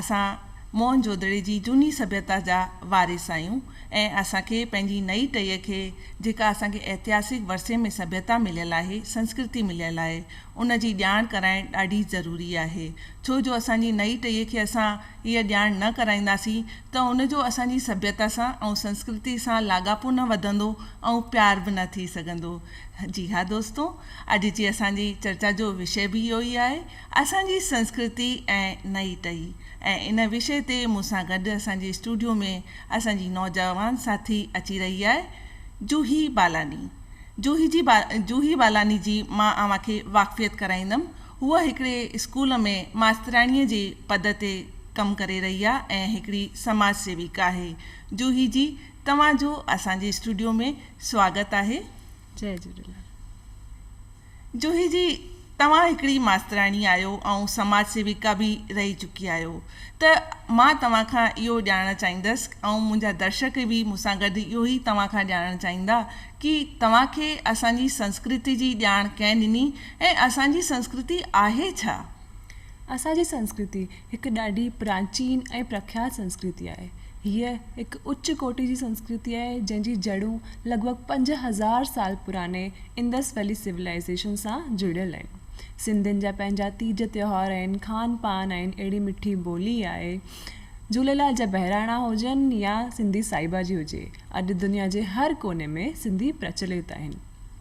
اسان موهن جودڙي جي جهوني سڀيتا جا وارث آهيون ۽ اسان کي پنهنجي نئين ٽهيء کي جيڪا اسان کي ائتهاسڪ ورثي ۾ سڀيتا مليل آهي، سنسڪرتي مليل آهي، ان جي ڄاڻ ڪرائڻ ڏاڍي ضروري آهي. ڇو جو اسان جي نئين ٽهيء کي اسان هيء ڄاڻ نه ڪرائينداسين ته ان جو اسان جي سڀيتا سان ۽ سنسڪرتي سان لاڳاپو نه وڌندو ۽ پيار به نه ٿي سگهندو. جي ها دوستو! اڄ جي اسان جي چرچا جو وشيه به اهو ئي آهي. اسان جي سنسڪرتي ۽ نئي ٽهي ۽ ان وشي تي مون سان گڏ اسان جي اسٽوڊيو ۾ اسان جي نوجوان ساٿي اچي رهي آهي جوهي بالاني جوهي جي جوهي بالاني جي مان اوهان کي واقفيت ڪرائيندم هوء هڪڙي اسڪول ۾ ماسترياڻي جي پد تي ڪم ڪري رهي آهي ۽ هڪڙي سماج سيوڪ آهي جوهي جي توهان جو اسان جي اسٽوڊيو ۾ سواگت آهي. جي جهوليلال. جوهي جي، توهان هڪڙي ماستراڻي آهيو ۽ سماج سيوڪا به رهي چڪي آهيو ته مان توهان کان اهو ڄاڻڻ چاهيندس ۽ منهنجا درشڪ به مون سان گڏ اهو ئي توهان کان ڄاڻڻ چاهيندا ڪي توهان کي اسان جي سنسڪرتي جي ڄاڻ ڪنهن ڏني ۽ اسان جي سنسڪرتي آهي ڇا؟ اسان جي سنسڪرتي هڪ ڏاڍي پراچين ۽ پرکيات سنسڪرتي آهي. هيء هڪ اچ ڪوٽي جي سنسڪرتي آهي، جنهن جي جڙون لڳ ڀڳ پنج هزار سال پراڻي انڊس ويلي سولائيزيشن سان جڙيل آهن. سنڌين جا پنهنجا تيج تهوار آهن، کان پان آهن، اهڙي مٺي ٻولي آهي. جهوليلال جا بهراڻا هجن يا سنڌي سائبا جي هجي، اڄ دنيا جي هر ڪوني ۾ سنڌي پرچلت آهن.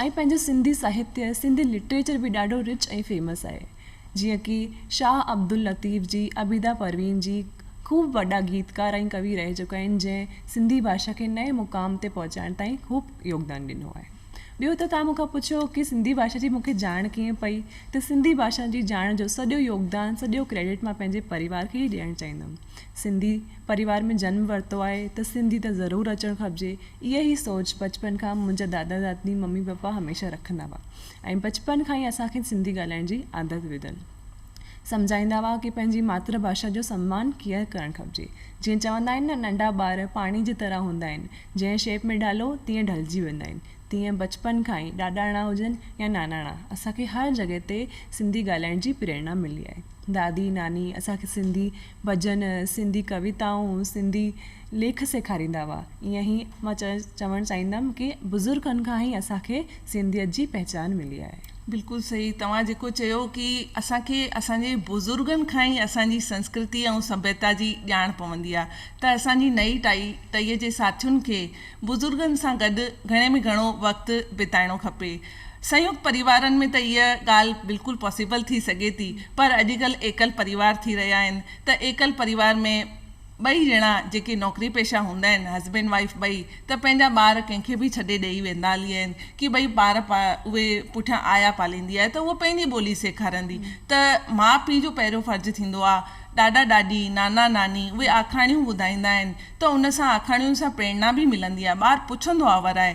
ائين پنهنجو سنڌي ساهتيه، سنڌي لٽريچر به ڏاڍو رچ ۽ فيمس آهي. جيئن ڪي شاهه عبداللطيف جي عبيده پروين جي خوب وڏا گيتڪار ۽ ڪوي رهي چڪا آهن جنهن سنڌي ڀاشا کي نئين مقام تي پهچائڻ تائين خوب يوگدان ڏنو آهي. ٻيو ته توهان مون کان پڇيو ڪي سنڌي ڀاشا جي مون کي ڄاڻ ڪيئن پئي ته سنڌي ڀاشا جي ڄاڻ جو سڄو يوگدان سڄو ڪريڊٽ مان پنهنجي پريوار کي ئي ڏيڻ چاهيندم. سنڌي. پريوار ۾ جنم ورتو آهي ته سنڌي ته ضرور اچڻ کپجي. اها ئي سوچ بچپن کان منهنجا دادا دادي ممي پپا هميشه رکندا هئا ۽ بچپن کان ئي اسان کي سنڌي ڳالهائڻ جي عادت وڌل. سمجهائيندا هئا ڪي پنهنجي ماتر ڀاشا جو سمان ڪيئن ڪرڻ کپجي. جيئن چوندا آهن نه ننڍا ٻار پاڻي جي طرح هوندا آهن جنهن شيپ ۾ ڍالو تيئن ڍلجي ويندا آهن تيئن بچپن کان ئي ڏاڏاڻا هجن يا ناناڻا اسان کي هر جڳهه تي سنڌي ڳالهائڻ جي پريرنا ملي آهي. دادي ناني اسان کي سنڌي. ڀڄن، سنڌي ڪويتائون، سنڌي ليک سيکاريندا هئا. ائين هي مان چوڻ چاهيندم ڪي بزرگن کان هي اسان کي سنڌيت جي پهچان ملي آهي. بلڪل صحيح توهان جيڪو چيو ڪي اسان کي اسان جي بزرگن کان ئي اسان جي سنسڪرتي ۽ سڀيتا جي ڄاڻ پوندي آهي ته اسان جي نئي ٽائي ٽهي جي ساٿين کي بزرگن سان گڏ گهڻي ۾ گهڻو وقت بتائڻو کپي سنيوڪت پريوارن ۾ ته اهي ڳالهه بلڪل پاسيبل ٿي سگهي ٿي پر اڄڪلهه ايڪل پريوار ٿي رهيا آهن ته ايڪل پريوار ۾ ٻئي ڄڻا جيڪي نوڪري پيشه هوندا آهن هسبينڊ وائيف ٻئي ته پنهنجا ٻار ڪنهن کي به ڇڏي ڏئي ويندا هلي آهن ڪي ٻئي ٻار اهي پٺيان آيا پاليندي آهي ته اهو پنهنجي ٻولي سيکاريندي ته ماء پيء جو پهريون فرض ٿيندو آهي ڏاڏا ڏاڏي نانا ناني اهي آکاڻيون ٻڌائيندا آهن ته ان سان آکاڻين سان پريرنا به ملندي آهي ٻار پڇندو آهي ورائي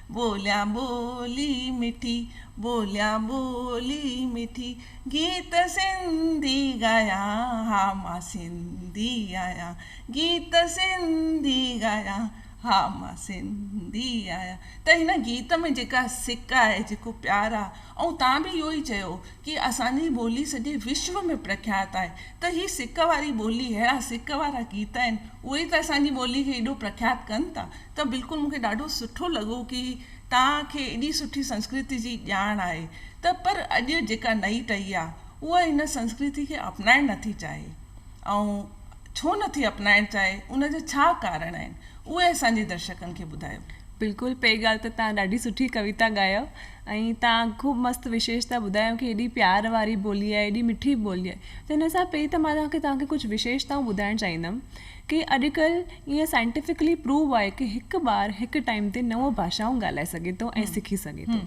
ٻوليان ٻولي مٺي، ٻوليان ٻولي مٺي، گيت سنڌي ڳايان، ها مان سنڌي آهيان، گيت سنڌي ڳايان، ها مان سنڌي آهيان. ته هن گيت ۾ جيڪا سڪ آهي، جيڪو پيار آهي، ۽ تان به اهو ئي چيو ڪي اسان جي ٻولي سڄي وشو ۾ پرکيات آهي. ته هي سڪ واري ٻولي اهڙا سڪ وارا گيت آهن اهي ئي ته اسان جي ٻولي کي ايڏو پرکيات ڪن ٿا ته بلڪل مون کي ڏاڍو سٺو لڳو ڪي توهان کي ايڏي سٺي سنسڪرتي جي ڄاڻ آهي ته پر اڄ جيڪا نئي ٽهي آهي اها هن سنسڪرتي کي اپنائڻ نٿي چاهي ۽ ڇو نٿي اپنائڻ چاهي ان جا ڇا ڪارڻ آهن اهي اسان جي درشڪن کي ٻڌايو. بلڪل پهرين ڳالهه ته توهان ڏاڍي سٺي ڪويتا ڳايو. ۽ تان خوب مست وشيش ٿا ٻڌايو ڪي ايڏي پيار واري ٻولي آهي ايڏي مٺي ٻولي آهي ته ان حساب پهرين ته مان تکي تان کي ڪجهه وشيشتائون ٻڌائڻ چاهيندم ڪي اڄ ڪل ايئن سائنٽيفڪلي پروو آهي ڪي هڪ ٻار هڪ ٽائيم تي نو ڀاشائون ڳالهائي سگهي ٿو ۽ سکي سگهي ٿو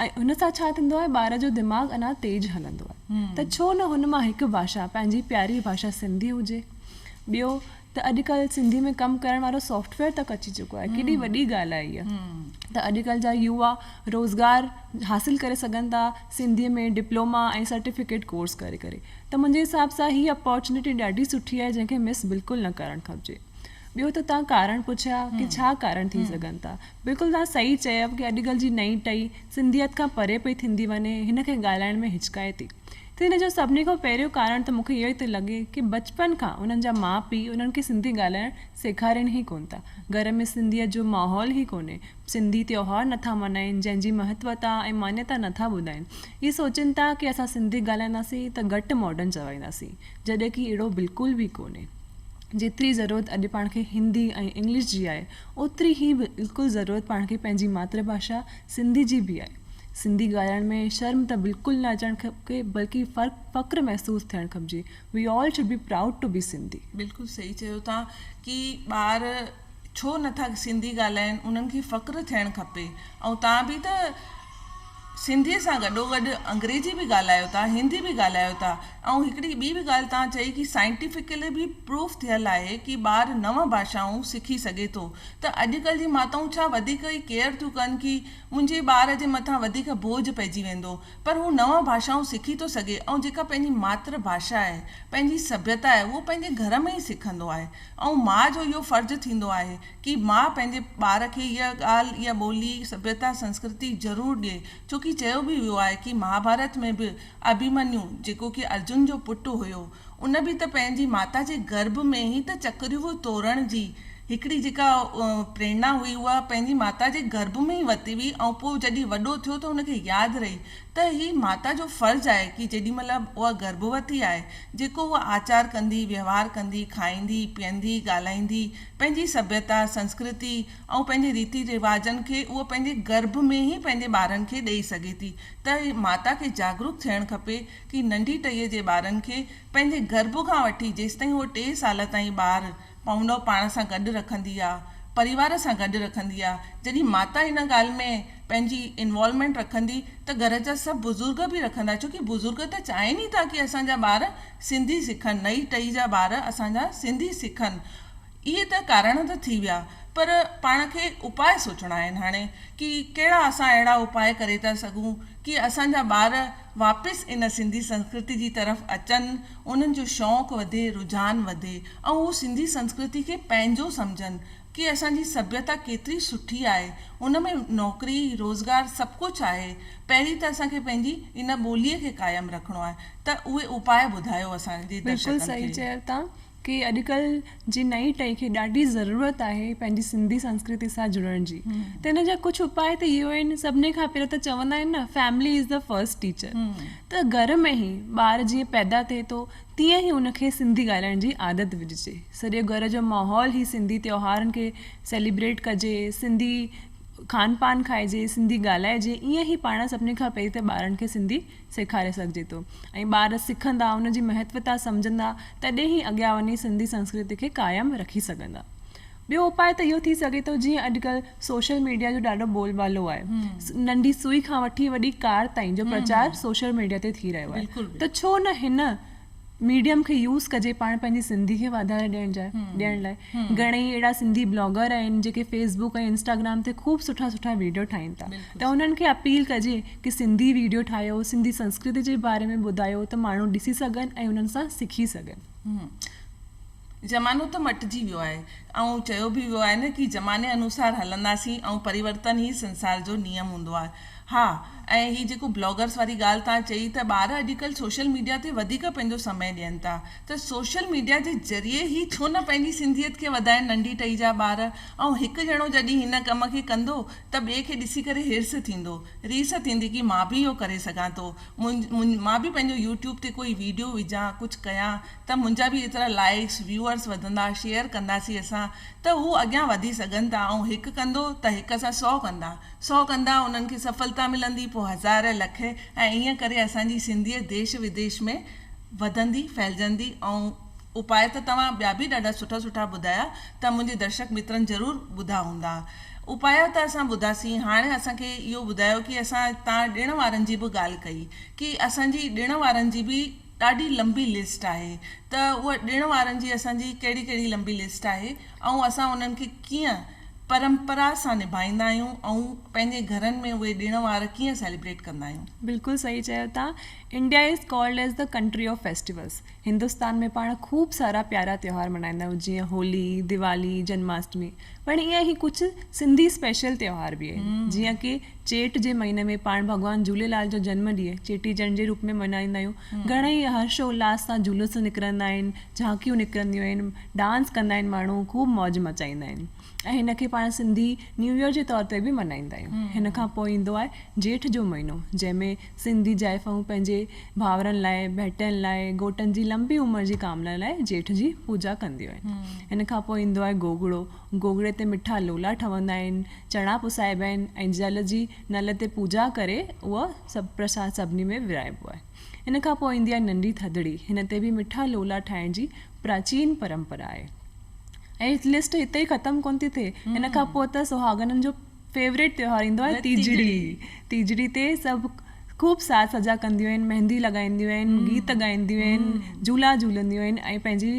۽ ان سان ڇا ٿيندو آهي ٻار جو دماغ اڃا تيز هلندو آهي ته ڇو نه هن مان هڪ ڀاشا پنهنجي پياري ڀاشا سنڌي هجي ٻيو ته اڄ ڪلهه سنڌي ۾ ڪم ڪرڻ وارو سافٽ ويئر تڪ اچي چڪو آهي ڪيڏي وڏي ڳالهه آهي اها ته اڄ ڪلهه جا يووا روزگار حاصل ڪري سگهن ٿا سنڌي ۾ ڊپلوما ۽ سرٽيفڪيٽ ڪورس ڪري ڪري ته منهنجي حساب سان هي اپارچونيٽي ڏاڍي سٺي آهي جنهن کي مس بلڪل نه ڪرڻ کپجي ٻيو ته تان ڪارڻ پڇيا ڪي ڇا ڪارڻ ٿي سگهن ٿا بلڪل تان صحيح چيو ڪي اڄ ڪلهه جي نئين ٽئي سنڌيت کان پري پئي ٿيندي وڃي هن کي ڳالهائڻ ۾ هچڪائي ٿي ته ان جو سڀني کان پهريون ڪارڻ ته مون کي اهو ئي ٿو لڳي ڪي بچپن کان انهن جا ماء پيء انهن کي سنڌي ڳالهائڻ سيکارين ئي ڪونه ٿا. گهر ۾ سنڌيت جو ماحول ئي ڪونهي. سنڌي تيوهار نه ٿا ملهائين، جنهن جي مهتوتا ۽ مانيتا نه ٿا ٻڌائين. اهي سوچين ٿا ڪي اسان سنڌي ڳالهائينداسين ته گهٽ ماڊرن چوائينداسين، جڏهن ڪي اهڙو بلڪل به ڪونهي. جيتري ضرورت اڄ پاڻ کي هندي ۽ انگلش جي آهي، اوتري ئي بلڪل ضرورت پاڻ کي پنهنجي ماترڀاشا سنڌي جي به آهي. سنڌي ڳالهائڻ ۾ شرم ته بلڪل نه اچڻ کپي بلڪ فخر محسوس ٿيڻ کپجي We all should be proud to be Sindhi. بلڪل صحيح چيو ٿا ڪي ٻار ڇو نٿا سنڌي ڳالهائين انهن کي فخر ٿيڻ کپي ۽ توهان به ته سنڌي سان گڏو گڏ انگريزي به ڳالهايو ٿا هندي به ڳالهايو ٿا ۽ هڪڙي ٻي به ڳالهه توهان چئي ڪي Scientifically به Proof ٿيل آهي ڪي ٻار نو ڀاشائون سکي سگهي ٿو ته اڄڪلهه جي ماتائون ڇا وڌيڪ ئي Care ٿيون ڪن ڪي منهنجي ٻار جي مٿان وڌيڪ بوجهه پئجي ويندو پر هو نون ڀاشائون سکي ٿو سگهي ۽ جيڪا پنهنجي ماتر ڀاشا آهي، پنهنجي سڀيتا آهي اهو پنهنجي گهر ۾ ئي سکندو آهي ۽ ماء جو اهو فرض ٿيندو آهي ڪي ماء پنهنجي ٻار کي اها ڳالهه اها ٻولي سڀيتا سنسڪرتي ضرور ڏئي ڇوڪي چيو به ويو آهي ڪي مهاڀارت ۾ به اڀيمنيو جيڪو ڪي ارجن جو پٽ هيو ان به ته پنهنجي ماتا جي گرڀ ۾ ئي ته چڪريون ٽورڻ جي هڪڙي جيڪا پريرنا هئي اها پنهنجي ماتا جي گرڀ ۾ ئي ورتي هئي ۽ پوء جڏهن وڏو ٿيو ته هن کي ياد رهي ته هي ماتا جو فرض آهي ڪي جيڏي مهل اها گرڀوتي آهي جيڪو اها آچار ڪندي، وهنوار ڪندي، کائيندي، پيئندي، ڳالهائيندي، پنهنجي سڀيتا، سنسڪرتي ۽ پنهنجي ريتي رواجن کي اها پنهنجي گرڀ ۾ ئي پنهنجي ٻارن کي ڏيئي سگهي ٿي ته ماتا کي جاڳروڪ ٿيڻ کپي ڪي ننڍي ٽهيء جي ٻارن کي پنهنجي گرڀ کان وٺي جيستائين هو ٽي سال تائين ٻار پونو پاڻ سان گڏ رکندي آ پريوار سان گڏ رکندي آ جڏھن ماتا ان ڳالھ ۾ پنھنجي انوالومينٽ رکندي ته گھر جا سڀ بزرگ به رکندا ڇو ڪي بزرگ ته چاھين ئي ٿا ڪي اسان جا ٻار سنڌي سکن نئي ٽئي جا ٻار اسان جا سنڌي سکن اھي ته ڪارڻ ته ٿي ويا پر پاڻ کي اپاء سوچڻا آھن ھاڻي ڪي ڪھڙا اسان اھڙا اپاء ڪري ٿا سگھون ڪي اسان جا ٻار واپس ان سنڌي سنسڪرتي جي طرف اچن، انهن جو شوق وڌي، رجحان وڌي ۽ هو سنڌي سنسڪرتي کي پنهنجو سمجهن ڪي اسان جي سڀيتا ڪيتري سٺي آهي، ان ۾ نوڪري، روزگار سڀ ڪجهه آهي، پهرين ته اسان کي پنهنجي ان ٻوليء کي قائم رکڻو آهي ته اهي اپاء ٻڌايو اسان جي درشڪن کي. بلڪل صحيح چيو تان کي اڄڪلهه جي نئين ٽهي کي ڏاڍي ضرورت آهي پنهنجي سنڌي سنسڪرتي سان جڙڻ جي ته ان جا ڪجهه اپاء ته اهو آهن سڀني کان پهريون ته چوندا آهن نه family is the first teacher ته گهر ۾ ئي ٻار جيئن پيدا ٿئي ٿو تيئن ئي ان کي سنڌي ڳالهائڻ جي عادت وجهجي سڄي گهر جو ماحول ئي سنڌي تيوهارن کي سيليبريٽ ڪجي سنڌي کان پان کائجي سنڌي ڳالهائجي ايئن ئي پاڻ سڀني کان پهرين ته ٻارن کي سنڌي سيکاري سگهجي ٿو ۽ ٻار سکندا ان جي مهتوتا سمجهندا تڏهن ئي اڳيان وڃي سنڌي سنسڪرتي کي قائم رکي سگهندا ٻيو اپاء ته اهو ٿي سگهي ٿو جيئن اڄڪلهه سوشل ميڊيا جو ڏاڍو بول بالو آهي ننڍي سوئي کان وٺي وڏي ڪار تائين جو پرچار سوشل ميڊيا تي ٿي رهيو آهي ته ڇو نه هن ميڊيم کي يوز ڪجي پاڻ پنهنجي سنڌي کي واڌاري ڏيڻ جاء ڏيڻ لاء گهڻي ئي اهڙا سنڌي بلاگر آهن جيڪي فيس بڪ ۽ انسٽاگرام تي خوب سٺا سٺا ويڊيو ٺاهين ٿا ته انهن کي اپيل ڪجي ڪي سنڌي ويڊيو ٺاهيو سنڌي سنسڪرتي جي باري ۾ ٻڌايو ته ماڻهو ڏسي سگهن ۽ انهن سان سکي سگهن زمانو ته مٽجي ويو آهي ۽ چيو به ويو آهي نه ڪي زماني انوسار هلنداسين ۽ پريورتن ئي سنسار جو نيم هوندو آهي. ها ۽ هي جيڪو بلاگرس واري ڳالهه توهان چئي ته ٻار اڄڪلهه سوشل ميڊيا تي وڌيڪ پنهنجو سمي ڏين ٿا ته سوشل ميڊيا جي ذريعي هي ڇو نه پنهنجي سنڌيت کي وڌائين ننڍي ٽهي جا ٻار ۽ هڪ ڄڻو جڏهن هن ڪم کي ڪندو ته ٻئي کي ڏسي ڪري حرص ٿيندو ريس ٿيندي ڪي مان به اهو ڪري سگهان ٿو مان به پنهنجو يوٽيوب تي ڪوئي ويڊيو وجهان ڪجهه ڪيان ته منهنجا به ايترا لائيڪس ويوئرس وڌندا شيئر ڪنداسين اسان ته هو اڳيان وڌي سگهن ٿا ۽ هڪ ڪندو ته هڪ سان سؤ ڪندا سؤ ڪندا انهن کي سڦلتا ملندي پوء هزار لک ۽ ائين ڪري اسان جي سنڌيت ديش وديش ۾ وڌندي ڦهلجندي ۽ اپاء ته توهان ٻيا به ڏاڍا سٺا سٺا ٻڌايا ته منهنجي درشڪ مترن ضرور ٻڌا هوندا اپاء ته اسان ٻڌاسين هاڻي اسان کي اهو ٻڌايو ڪي اسان تان ڏڻ وارن جي به ڳالهه ڪئي ڪي اسان جي ڏڻ وارن جي به ڏاڍي لنبي لسٽ آهي ته اها ڏڻ وارن جي اسان جي ڪهڙي ڪهڙي لنبي لسٽ آهي ۽ اسان انهن کي ڪيئن پرمپرا سان نڀائيندا آهيون ۽ پنهنجي گهرن ۾ اهي ڏڻ وار ڪيئن سيليبريٽ ڪندا آهيون. بلڪل صحيح چيو تان India is called as the country of festivals Hindustan ۾ پاڻ خوب سارا پيارا تيوهار ملهائيندا آهيون جيئن هولي، ديوالي، جنماشٽمي. پڻ ايئن ئي ڪجهه سنڌي اسپيشل تهوار به آهن جيئن ڪي چيٽ جي مهيني ۾ پاڻ ڀڳوان جهوليلال جو جنم ڏينهن چيٽي چنڊ جي روپ ۾ ملهائيندا آهيون گهڻا ئي هرش و الهاس سان جلوس نڪرندا آهن جهانڪيون نڪرنديون آهن ڊانس ڪندا آهن ماڻهو خوب موج مچائيندا آهن ۽ هن کي پاڻ سنڌي نيو يئر جي طور تي به ملهائيندا آهيون هن کان پوء ايندو آهي جيٺ جو مهينو جنهن ۾ سنڌي زائفائون پنهنجي ڀائرن لاء، ڀيٽين لاء، گهوٽن جي لنبي عمر جي ڪامنا لاء جيٺ جي پوڄا ڪنديون آهن. ان کان پوء ايندو آهي گوگڙو. گوگڙي تي مٺا لولا ٺهندا آهن، چڻا پسائبا آهن ۽ جل جي نل تي پوڄا ڪري اهو سڀ پرساد سڀني ۾ ورهائبو آهي. ان کان پوء ايندي آهي ننڍي ٿڌڙي. هن تي به مٺا لولا ٺاهڻ جي پراچين پرمپرا آهي. اهي لسٽ هتي ئي ختم ڪونه ٿي ٿئي. ان کان پوء ته سهاڳنن جو. فيوريٽ تيوهار ايندو آهي تيجڙي تيجڙي تي سڀ خوب ساز سجا ڪنديون آهن مهندي لڳائينديون آهن گيت ڳائينديون آهن جهولا جهولنديون آهن ۽ پنهنجي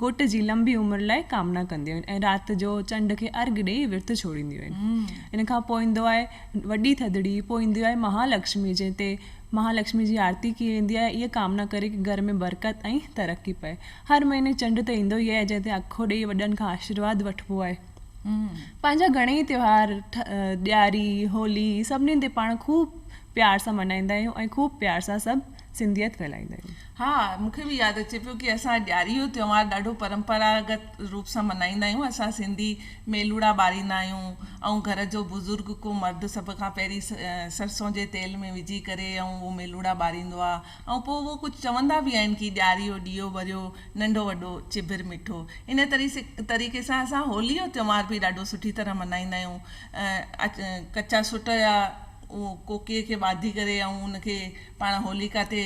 گهوٽ جي لمبي عمر لاء ڪامنا ڪنديون آهن ۽ رات جو چنڊ کي ارگ ڏيئي ورت ڇوڙينديون آهن ان کان پوء ايندو آهي وڏي ٿڌڙي پوء ايندي آهي مهالڪشمي جنهن تي مهالڪشمي جي آرتي ڪئي ويندي آهي اها ڪامنا ڪري ڪي گهر ۾ برڪت ۽ ترقي پئي هر مهيني چنڊ ته ايندو ئي آهي جنهن تي اکو ڏيئي وڏن کان آشيرواد وٺبو آهي پنهنجا گهڻيئي تهوار ڏياري، هولي سڀني تي پاڻ خوب پيار سان ملهائيندا آهيون ۽ خوب پيار سان سڀ سنڌيت ڦهلائيندا آهيون. ها مون کي به ياد اچي پيو ڪي اسان ڏياري جو تهوار ڏاڍو پرمپراگت روپ سان ملهائيندا آهيون اسان سنڌي ميلوڙا ٻاريندا آهيون ۽ گهر جو بزرگ ڪو مرد سڀ کان پهرين سرسون جي تيل ۾ وجهي ڪري ۽ اهو ميلوڙا ٻاريندو آهي ۽ پوء اهو ڪجهه چوندا به آهن ڪي ڏياري جو ڏيئو ٻريو، ننڍو وڏو چڀر مٺو. انهيء طريقي سان اسان هوليء جو تهوار به ڏاڍو سٺي طرح ملهائيندا آهيون. ڪچا سٽ يا ڪوڪيء کي ٻاڌي ڪري ۽ ان کي پاڻ هوليڪا تي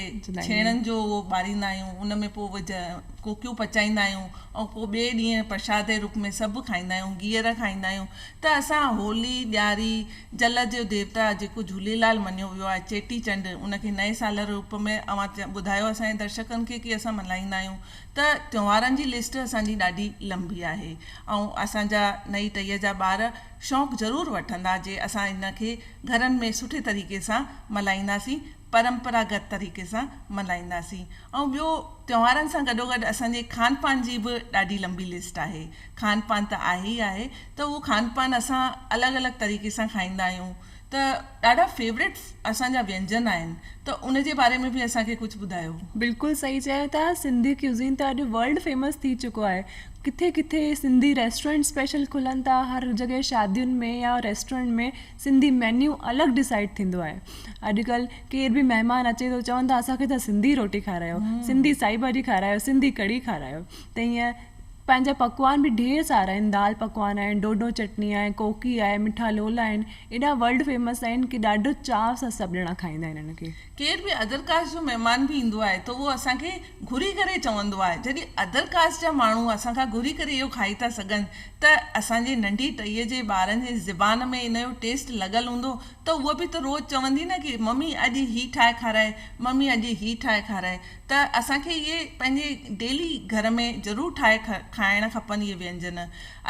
ڇيڻن جو اهو ٻاريندا آهيون. ان ۾ پوء اهي ڪوڪيون پچائيندا آهيون ۽ پوء ٻئي ڏينهن پرشاد جي روپ ۾ سڀ کائيندا آهيون، گيئر کائيندا آهيون ته اسان هولي، ڏياري، جل جو ديوتا جيڪو جهوليلال مڃيو ويو آهي چيٽي چنڊ ان کي نئين سال روپ ۾ اوهان ٻڌايو اسان جي درشڪن کي ڪي اسان ملهائيندا آهيون ته تيوهارن جي لسٽ اسان جي ڏاڍي لنبي آهي ۽ اسان جا نئي ٽهي جا ٻار شوق ضرور وٺندا جي اسان ان کي گهرن ۾ سٺي طريقي سان ملهائينداسين پرمپراگت طريقي سان ملهائينداسين ۽ ٻيو تهوارن سان گڏوگڏ اسان جي کان پان جي به ڏاڍي لمبي لسٽ آهي کان پان ته آهي ئي آهي ته اهو کان پان اسان الڳ الڳ طريقي سان کائيندا آهيون ته ڏاڍا فيورٽ اسان جا وينجن آهن ته ان جي باري ۾ به اسان کي ڪجهه ٻڌايو. بلڪل صحيح چيو ٿا سنڌي ڪيوزين ته اڄ ورلڊ فيمس ٿي چڪو آهي ڪٿي ڪٿي سنڌي ريسٽورنٽ اسپيشل کلن ٿا هر جڳهه شادين ۾ يا ريسٽورنٽ ۾ سنڌي مينيو الڳ ڊسائيڊ ٿيندو آهي اڄڪلهه ڪير به مهمان اچي ٿو چون ٿا اسان کي ته سنڌي روٽي کارايو سنڌي سائي ڀاڄي کارايو سنڌي ڪڙهي کارايو ته ائين پنهنجا پڪوان به ڍير سارا آهن دال پڪوان آهن ڍوڍو چٽني آهي ڪوڪي آهي مٺا لولا آهن ايڏا ورلڊ فيمس آهن ڪي ڏاڍو چاء سان سڀ ڄڻا کائيندا آهن انهن کي ڪير به ادر ڪاسٽ جو مهمان به ايندو آهي ته اهو اسان کي گهري ڪري چوندو آهي جڏهن ادر ڪاسٽ جا ماڻهو اسان کان گهري ڪري اهو کائي ٿا سگهن ته اسان جي ننڍي ٽهيء جي ٻارن جي زبان ۾ ان جو ٽيسٽ لڳل هوندو ته هوء به ته روز چوندي نه ڪي ممي اڄ هي ٺاهي کارائي ممي اڄ هي ٺاهي کارائي ته اسان کي اهي پنهنجي ڊيلي گهر ۾ ضرور ٺاهي کائڻ کپن اهي وينجن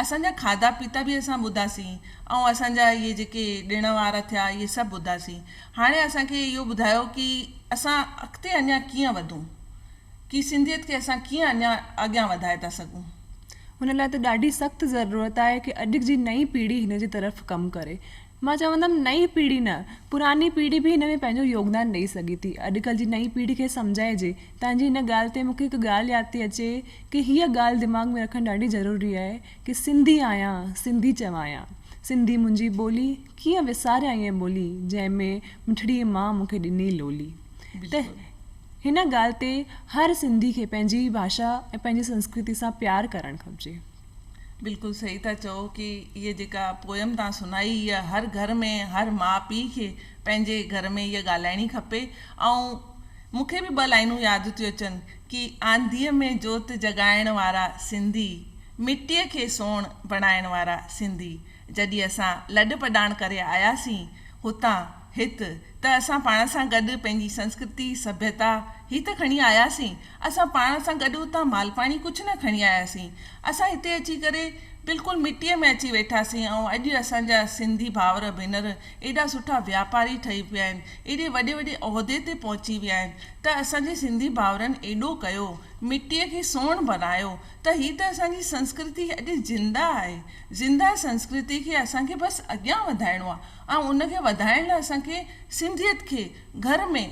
اسان جا کاڌا پيتا به اسان ٻڌاسين ۽ اسان جا اهي جيڪي ڏڻ وار ٿيا اهي سڀ ٻڌاسين هاڻي اسان کي اهو ٻڌايو ڪي اسان اڳتي اڃان ڪيئن وڌون ڪي سنڌيت کي اسان ڪيئن اڃان اڳيان وڌائي ٿا سگهون. هن لاء ته ڏاڍي سخت ضرورت آهي ڪي اڄ جي نئين پيڙهي هن جي طرف ڪم ڪري. مان چوندم نئين پيڙهي نه پراني پيڙهي به هن ۾ پنهنجو يوگدان ڏئي سگهي ٿي. اڄڪلهه جي نئين پيڙهي کي سمجهائجي. تنهنجي هن ڳالهه تي مون کي هڪ ڳالهه ياد ٿي اچي ڪي هيء ڳالهه دماغ ۾ رکڻ ڏاڍي ضروري آهي ڪي سنڌي آهيان سنڌي چوايان سنڌي منهنجي ٻولي ڪيئن وساريان اهي ٻولي جنهن ۾ مٺڙي ماء مون کي ڏني لولي ته هن ڳالهه تي هر سنڌي کي پنهنجي ڀاشا ۽ پنهنجي سنسڪرتي سان پيار ڪرڻ کپجي. بلڪل صحيح ٿا چئو ڪي هي جيڪا پوئم توهان سنائي اها هر گهر ۾ هر ماء پي کي پنهنجي گهر ۾ اها ڳالهائڻي کپي ۽ مون کي به ٻه لائينون ياد ٿيون اچن ڪي آنڌيء ۾ جوت جڳائڻ وارا سنڌي، مٽيء کي سون بڻائڻ وارا سنڌي، جڏھن اسان لڏپلاڻ ڪري آياسين ھتان ھت ته اسان پاڻ سان گڏ پنھنجي سنسڪرتي، سڀيتا ھي ته کڻي آياسين، اسان پاڻ سان گڏ اتان مالپاڻي ڪجھ نه کڻي آياسين، اسان ھتي اچي ڪري بلڪل مٽيء ۾ اچي ويٺاسين ۽ اڄ اسان جا سنڌي ڀائر ڀينر ايڏا سٺا واپاري ٺهي پيا آهن، ايڏي وڏي وڏي عهدي تي پهچي ويا آهن ته اسان جي سنڌي ڀائرن ايڏو ڪيو، مٽيء کي سون بنايو ته هي ته اسان جي سنسڪرتي اڄ زنده آهي، زنده سنسڪرتي کي اسان کي بس اڳيان وڌائڻو آهي ۽ ان کي وڌائڻ لاء اسان کي سنڌيت کي گهر ۾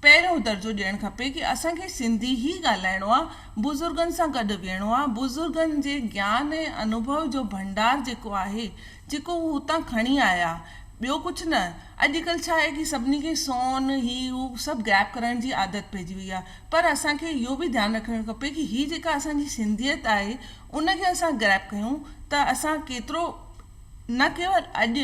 پهريون درجو ڏيڻ کپي ڪي اسان کي سنڌي ئي ڳالهائڻو آهي، بزرگن سان گڏ ويهڻو آهي، بزرگن جي گيان ۽ انوڀو جو ڀنڊار جيڪو آهي، جيڪو هو هتان کڻي آيا. ٻيو ڪجهه نه. اڄ ڪلهه ڇا آهي ڪي سڀني کي سون، هي هو سڀ غائب ڪرڻ جي عادت پئجي وئي آهي. پر اسان کي اهو به ڌيان رکڻ کپي ڪي هي جيڪا اسان جي سنڌيت آهي ان کي اسان غائب ڪيون ته اسان ڪيترو نه ڪيول اڄ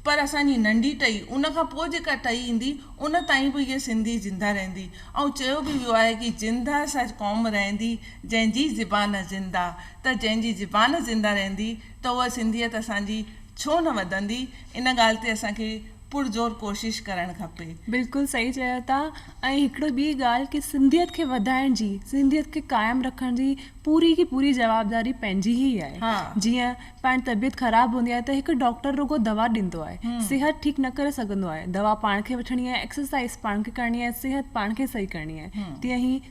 پر اسان جي ننڍي ٽهي ان کان پوء جيڪا ٽهي ايندي ان تائين به هيء سنڌي زنده رهندي. ائون چيو به ويو آهي ڪي زنده سا قوم رهندي جنهن جي زبان زنده ته جنهن جي زبان زنده رهندي ته اها سنڌيت اسان جي ڇو نه وڌندي ان ڳالهه تي اسان کي پرزور ڪوشش ڪرڻ کپي. بلڪل صحيح چيو ٿا ۽ هڪڙي ٻي ڳالهه ڪي سنڌيت کي وڌائڻ جي سنڌيت کي قائم رکڻ جي پوري جي پوري جوابداري پنهنجي هي آهي جيئن پاڻ طبيعت خراب هوندي آهي ته هڪ ڊاڪٽر رڳو دوا ڏيندو آهي صحت ٺيڪ نه ڪري سگهندو آهي دوا پاڻ کي وٺڻي آهي ايڪسرسائز پاڻ کي ڪرڻي آهي صحت پاڻ کي صحيح ڪرڻي آهي تيئن هي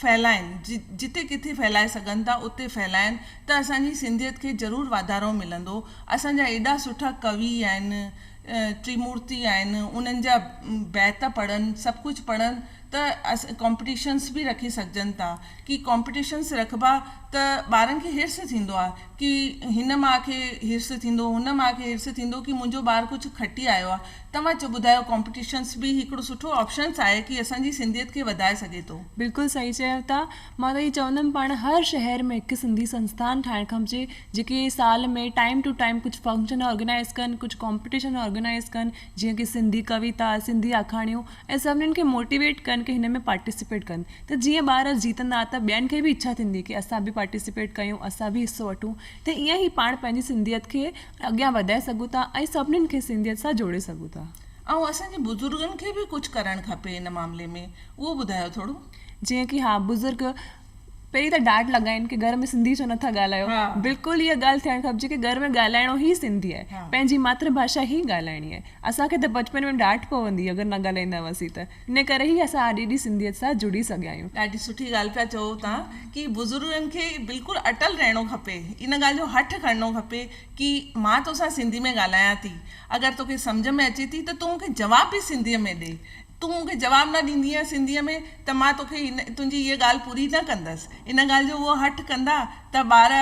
ڦهلائين جتي ڪٿي ڦهلائي سگهن ٿا اتي ڦهلائين ته اسان جي سنڌيت کي ضرور واڌارو ملندو اسان جا ايڏا سٺا ڪوي آهن ٽريمورتي آهن انهن جا بيت پڙهن سڀ ڪجهه پڙهن ته ڪامپٽيشنس به رکي سگهجن ٿا ڪي ڪامپٽيشنس رکبا ته ٻارن کي حرص ٿيندو آهي ڪي هن ماء کي حرص ٿيندو هن ماء کي حرص ٿيندو ڪي منهنجو ٻار ڪجهه کٽي آيو آهي توهان جو ٻڌايو ڪمپٽيشنس به هڪڙو سٺو آپشنس آهي ڪي اسان جي سنڌيت کي وڌائي سگهي ٿو. بلڪل صحيح چيو ٿا مان ته اهي چوندم پاڻ هر شهر ۾ هڪ سنڌي سنستان ٺاهڻ کپجي جيڪي سال ۾ ٽائيم ٽو ٽائيم ڪجهه فنڪشن آرگنائيز ڪن ڪجهه ڪمپٽيشن آرگنائيز ڪن جيئن ڪي سنڌي ڪويتا سنڌي آکاڻيون ۽ سڀنن کي موٽيويٽ ڪن ڪي هن ۾ پارٽيسپيٽ ڪن ته جيئن ٻار جيتندا ته ٻين کي به اڇا ٿيندي ڪي اسان به پارٽيسپيٽ ڪيون اسان به حصو وٺون ته ايئن هي پاڻ پنهنجي سنڌيت کي اڳيان وڌائي سگهون ٿا ۽ سڀني کي سنڌيت سان جوڙي سگهون ٿا. ۽ اسان جي بزرگن کي به ڪجهه ڪرڻ کپي ان معاملي ۾ اهو ٻڌايو ٿورو. جيئن ڪي ها بزرگ پهرين ته ڊاٽ لڳائين ڪي گهر ۾ سنڌي ڇو نٿا ڳالهايو بلڪل اها ڳالهه ٿيڻ کپجي ڪي گهر ۾ ڳالهائڻو هي سنڌي آهي پنهنجي ماتر ڀاشا هي ڳالهائڻي آهي اسان کي ته بچپن ۾ ڊاٽ پوندي اگر نه ڳالهائيندا هئاسين ته ان ڪري ئي اسان اڄ ايڏي سنڌيت سان جڙي سگهيا آهيون. ڏاڍي سٺي ڳالهه پيا چئو تان ڪي بزرگن کي بلڪل اٽل رهڻو کپي ان ڳالهه جو هٺ کڻڻو کپي ڪي مان توسان سنڌي ۾ ڳالهايان ٿي اگر توکي سمجهه ۾ اچي ٿي ته تون مونکي جواب به سنڌي ۾ ڏي تون مونکي جواب نه ڏيندينء سنڌي ۾ ته مان توکي تنهنجي هيء ڳالهه پوري نه ڪندس ان ڳالهه جو هو هٺ ڪندا ته ٻار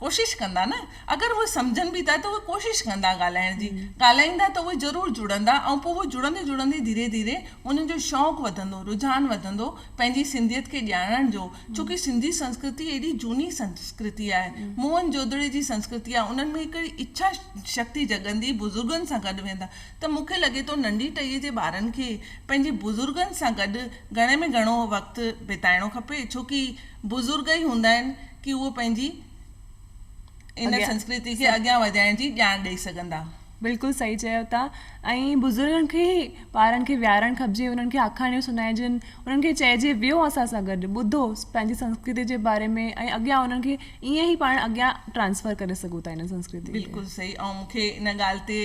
ڪوشش ڪندا نه اگر اهي سمجهن به ٿا ته اهي ڪوشش ڪندا ڳالهائڻ جي ڳالهائيندا ته اهي ضرور جڙندا ۽ پوء اهي جڙندي جڙندي ڌيري ڌيري انهن جو شوق وڌندو رجحان وڌندو پنهنجي سنڌيت کي ڄاڻڻ جو ڇوڪه سنڌي سنسڪرتي ايڏي جهوني سنسڪرتي آهي موهن جودڙي جي سنسڪرتي آهي انهن ۾ هڪڙي اڇا شڪتي جڳندي بزرگن سان گڏ ويندا ته مون کي لڳي ٿو ننڍي ٽهيء جي ٻارن کي پنهنجي بزرگن سان گڏ گهڻي ۾ گهڻو وقت بتائڻو کپي ڇو ڪي بزرگ ئي هوندا آهن ڪي اهو پنهنجي ان سنسڪرتي کي اڳيان وڌائڻ جي ڄاڻ ڏئي سگهندا. بلڪل صحيح چيو ٿا ۽ بزرگن کي ئي ٻارن کي ويهارڻ کپجي انهن کي آکاڻيون سنائجن انهن کي چئجي ويهو اسان سان گڏ ٻڌو پنهنجي سنسڪرتي جي باري ۾ ۽ اڳيان انهن کي ائين ئي پاڻ اڳيان ٽرانسفر ڪري سگهون ٿا ان سنسڪرتي کي. بلڪل صحيح ۽ مون کي ان ڳالهه تي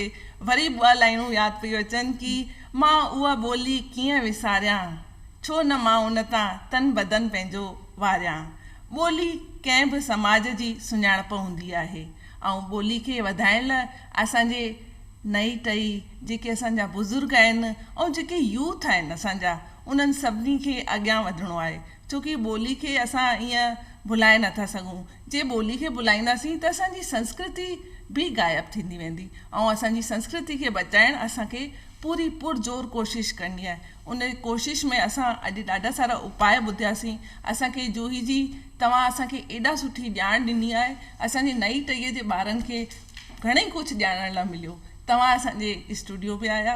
وري ٻه لائينون ياد پيون اچن ڪي مان اها ٻولي ڪيئن وساريان ڇو نه مان ان تان تن بدن پنهنجو واريان ٻولي ڪنهن به سماج جي سڃاڻپ هوندي آهي ۽ ٻولي کي وڌائڻ لا اسان جي نئي ٽهي جيڪي اسان جا بزرگ آهن ۽ جيڪي يوٿ آهن اسان جا انهن سڀني کي اڳيان وڌڻو آهي. ڇو ڪي ٻولي کي اسان ائين ڀلائي نه ٿا سگهون. جي ٻولي کي ڀلائينداسين ته اسان جي سنسڪرتي به غائب ٿيندي ويندي ۽ اسان جي سنسڪرتي کي بچائڻ اسان کي پوري پر زور ڪوشش ڪرڻي آهي. ان ڪوشش ۾ اسان اڄ ڏاڍا سارا اپاء ٻڌياسين. اسان کي جوهي جي توهان اسان کي ايڏا سٺي ڄاڻ ڏني آهي. اسان جي نئين ٽهيء جي ٻارن کي گهڻي ڪجهه ڄاڻڻ لاء مليو. توهان اسان جي اسٽوڊيو به آيا.